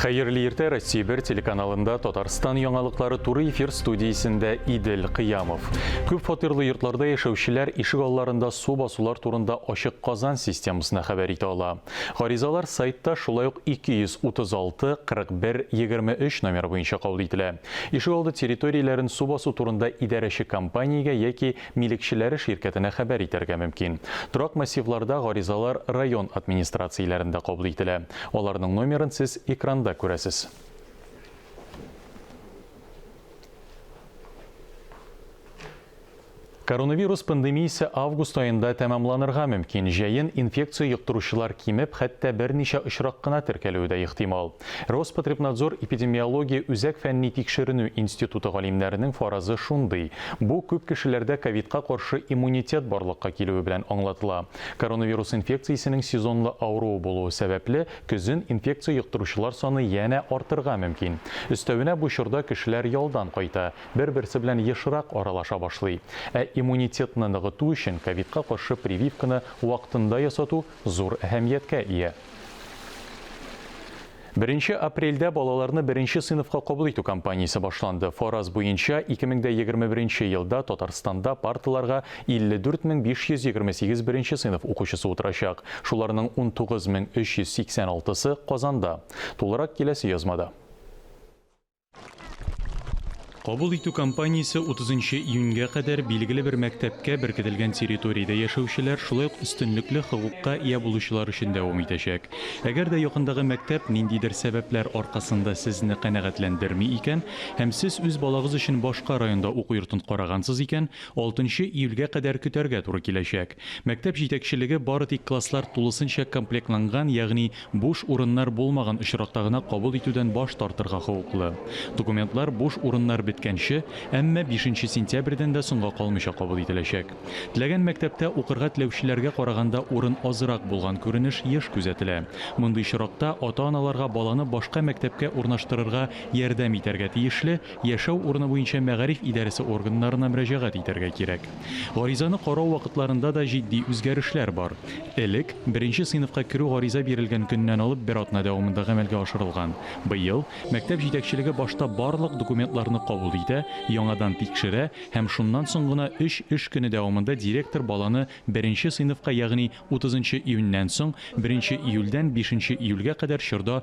Хәерле иртә Россия бер телеканалында Татарстан яңалыклары туры эфир студиясендә Идел Кыямов. Күп фатирлы йортларда яшәүчеләр ишек алларында су басулар турында ачык Казан системасына хәбәр итә ала. Гаризалар сайтта шулай ук 236 41 23 номер буенча кабул ителә. Ишегалды территорияләрен су басу турында идарәче компаниягә яки милекчеләре ширкәтенә хәбәр итәргә мөмкин. Торак массивларда гаризалар район администрацияләрендә кабул ителә. Аларның номерын сез экранда күрәсез. Коронавирус пандемиясе август аенда тәмамланырга мөмкин. Җәен инфекция йоктыручылар кимеп, хәтта берничә очрак кына теркәлүе дә ихтимал. Роспотребнадзор эпидемиология үзәк фәнни тикшеренү институты галимнәренең фаразы шундый, бу күп кешеләрдә ковидка каршы иммунитет барлыкка килүе белән аңлатыла. Коронавирус инфекциясенең сезонлы авыруы булуы сәбәпле, көзен инфекция йоктыручылар саны янә артырга мөмкин. Өстәвенә бу чорда кешеләр ялдан кайта. бер-берсе белән ешрак аралаша башлый. Ә иммунитетны ныгыту өчен ковидка каршы прививканы вакытында ясату зур әһәмияткә ия. Беренче апрельдә балаларны беренче сыйныфка кабул итү кампаниясе башланды. Фараз буенча, 2021 елда Татарстанда парталарга 54 мең 528 беренче сыйныф укучысы утырачак. Шуларның 19 мең 386-сы Казанда. Тулырак киләсе язмада. Кабул итү кампаниясе 30 нчы июньгә кадәр билгеле бер мәктәпкә беркетелгән территориядә яшәүчеләр, шулай ук өстенлекле хокукка ия булучылар өчен дәвам итәчәк. Әгәр дә якындагы мәктәп ниндидер сәбәпләр аркасында сезне канәгатьләндерми икән һәм сез үз балагыз өчен башка районда уку йортын карагансыз икән, 6 нчы июльгә кадәр көтәргә туры киләчәк. Мәктәп җитәкчелеге бары тик класслар тулысынча комплектланган, ягъни Буш урыннар булмаган очракта гына кабул итүдән баш тартырга хокуклы. Документлар буш урыннар беткәнче, әмма бишенче сентябрьдән дә соңга калмыйча кабул ителәчәк. Теләгән мәктәптә укырга теләүчеләргә караганда урын азрак булган күренеш еш күзәтелә. Мондый очракта ата-аналарга баланы башка мәктәпкә урнаштырырга ярдәм итәргә тиешле Яшәү урыны буенча мәгариф идарәсе органнарына мөрәҗәгать итәргә кирәк. Гаризаны карау вакытларында да җитди үзгәрешләр бар. Элек, беренче сыйныфка керү гариза бирелгән көннән алып бер атна дәвамында гамәлгә ашырылган. Быел, мәктәп җитәкчелеге башта барлык документларны кабул итә, яңадан тикшерә һәм шуннан соң гына өч эш көне дәвамында директор баланы беренче сыйныфка, ягъни утызынчы июньнән соң, беренче июльдән бишенче июльгә кадәр чорда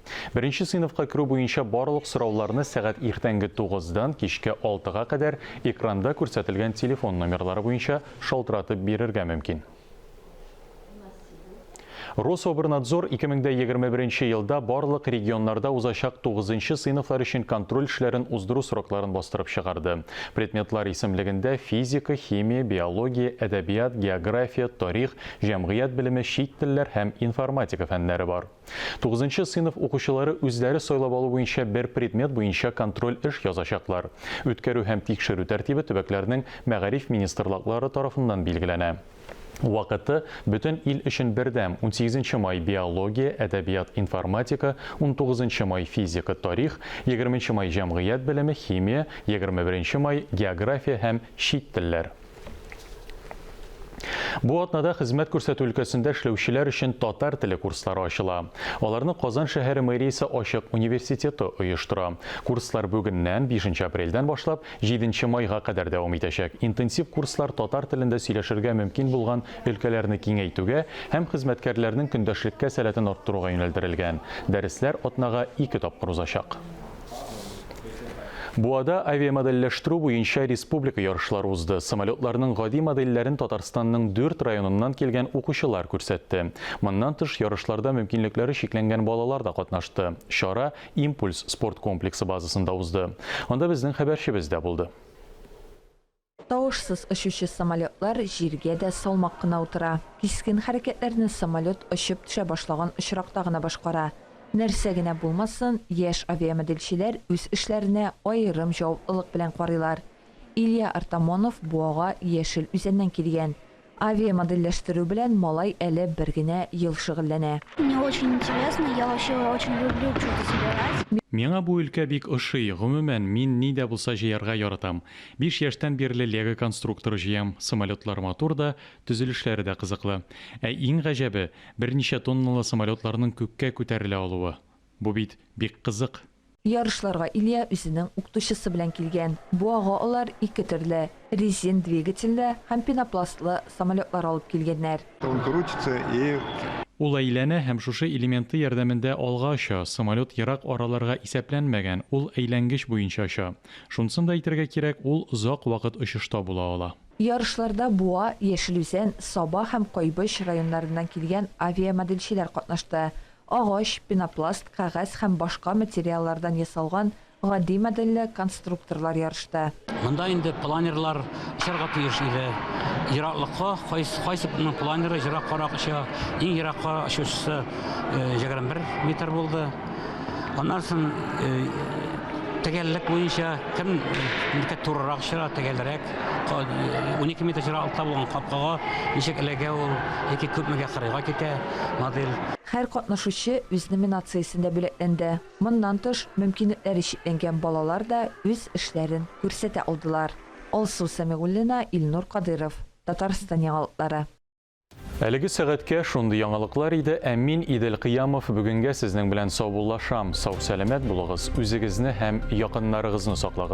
Беренче сыйныфка керү буенча барлык сорауларны сәгать иртәнге тугыздан кичке алтыга кадәр экранда күрсәтелгән телефон номерлары буенча шалтыратып бирергә мөмкин. Рособрнадзор 2021 елда барлык регионнарда узачак тугызынчы сыйныфлар өчен контроль эшләрен уздыру срокларын бастырып чыгарды. Предметлар исемлегендә физика, химия, биология, әдәбият, география, тарих, җәмгыять белеме, чит телләр һәм информатика фәннәре бар. Тугызынчы сыйныф укучылары үзләре сайлап алу буенча бер предмет буенча контроль эш язачаклар. Үткәрү һәм тикшерү тәртибе төбәкләрнең мәгариф министрлаклары тарафыннан билгеләнә. Вакыты, бөтен ил өчен бердәм, унсигезенче май, биология, әдәбият, информатика, унтугызынчы май, физика, тарих, егерменче май, җәмгыять белеме, химия, егерме беренче май, география һәм чит телләр. Бу атнада хезмәт күрсәтү өлкәсендә эшләүчеләр өчен татар теле курслары ачыла. Аларны Казан шәһәре мэриясе ачык университеты оештыра. Курслар бүгеннән, 5 апрельдән башлап, 7 майга кадәр дәвам итәчәк. Интенсив курслар татар телендә сөйләшергә мөмкин булган өлкәләрне киңәйтүгә һәм хезмәткәрләрнең көндәшлеккә сәләтен арттыруга юнәлдерелгән. Дәресләр атнага ике тапкыр узачак. Буада авиамодельләштерү буенча республика ярышлары узды. Самолетларның гади модельләрен Татарстанның дүрт районыннан килгән укучылар күрсәтте. Моннан тыш, ярышларда мөмкинлекләре чикләнгән балалар да катнашты. Чара Импульс спорт комплексы базасында узды. Анда безнең хәбәрчебез дә булды. Тавышсыз очучы самолетлар җиргә дә салмак кына утыра. Кискен хәрәкәтләрне самолет очып төшә башлаган очракта гына башкара. Нәрсә генә булмасын, яшь авиамоделчеләр үз эшләренә аерым җаваплылык белән карыйлар. Илья Артамонов Буага Яшел Үзәннән килгән. Авиамодельләштерү белән малай әле бер генә ел шөгыльләнә. Мне очень интересно, я вообще очень люблю чудо собирать. Миңа бу өлкә бик ошый, гомумән, мин ни дә булса җыярга яратам. Биш яшьтән бирле лего конструкторы җыям, самолетлар матур да, төзелешләре дә кызыклы. Ә иң гаҗәбе, берничә тонналы самолетларның күккә күтәрелә алуы. Бу бит бик кызык. Ярышларга Илья үзенең укытучысы белән килгән. Бу ага алар ике төрле, резин двигательле һәм пенопластлы самолетлар алып килгәннәр. Он крутится и. Ул әйләнә һәм шушы элементы ярдәмендә алга оча, самолет ерак араларга исәпләнмәгән, ул әйләнгеч буенча оча. Шунысын да әйтергә кирәк, ул озак вакыт очышта була ала. Ярышларда Буа, Яшел Үзән, Саба һәм Кайбыч районнарыннан килгән авиамоделчеләр катнашты. Агач, пенопласт, кәгазь һәм башка материаллардан ясалган гади модельле конструкторлар ярышта. Монда инде планерлар очарга тиеш иде. Ераклыкка кайсы кемнең планеры ераккарак оча, иң еракка очучысы 21 метр булды. Аннан соң төгәллек буенча кем ничек турырак очыра, төгәлрәк, унике метр ераклыкта булган капкага ничек эләгә ул яки күпмегә кырыйга китә. модель. Һәр катнашучы үз номинациясендә бүләкләнде. Моннан тыш, мөмкинлекләре чикләнгән балалар да үз эшләрен күрсәтә алдылар. Алсу Сәмигуллина, Илнур Кадыйров, Татарстан яңалыклары. Әлеге сәгатькә шундый яңалыклар иде, ә мин, Идел Кыямов, бүгенгә сезнең белән саубуллашам. Сау-сәламәт булыгыз, үзегезне һәм якыннарыгызны саклагыз.